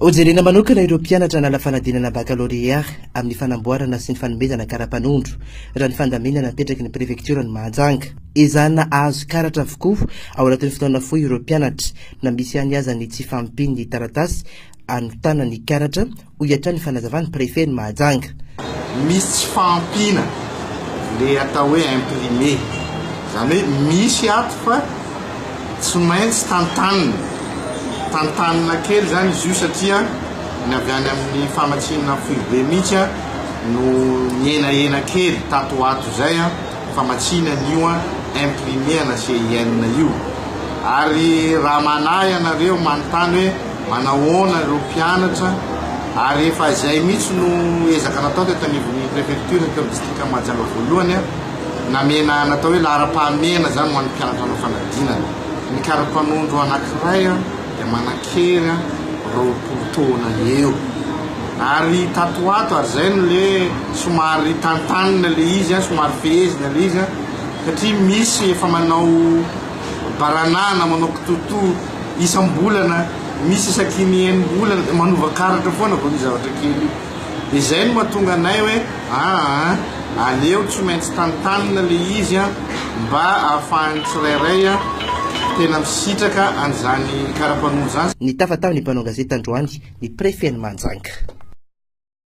Hojerena manokana ireo mpianatra hanala fanadinana bakalorea amin'ny fanamboarana sy ny fanomezana karapanondro, raha ny fandaminana apetraky ny prefektioran'i Mahajanga. Ezahana hahazo karatra avokoa ao anatin'ny fotoana fohy ireo mpianatra, na misy ihany aza ny tsy fahampian'ny taratasy anotana ny karatra, hoy hatrany ny fanazavan'ny prefen'i Mahajanga. Misy tsy fahampiana, ilay atao hoe imprimé, izany hoe misy ato fa. Tsy maintsy tantanina, tantanina kely zany izy io satria ny avy any amin'ny famatsiana foibe mihitsy no nihenahena kely tato ho ato izay, famatsiana an'io imprimer-na CIN io. Ary raha manahy ianareo manontany hoe manahoana ireo mpianatra ary efa izay mihitsy no ezaka natao teto anivon'ny prefecture, teto amin'ny distrikan'i Mahajanga voalohany, Namena natao hoe laharam-pahamehana izany ho an'ny mpianatra hanao fanadinana. Ny kara-panondro anankiray dia manan-kery roapolo taona eo. Ary tato ho ato ary izay no le somary tantanina le izy, somary fehezina le izy satria misy efa manao baranahana, manao kitoto isam-bolana, misy isaky ny enim-bolana dia manova karatra foana vao ny zavatra kely. Izay no mahatonga anay hoe aa aleo tsy maintsy tantanina le izy an mba ahafahan'ny tsirairay an tena misitraka an'izany karapanondro zany. Nitafa tao ny mpanao gazety androany ny prefen'i Mahajanga.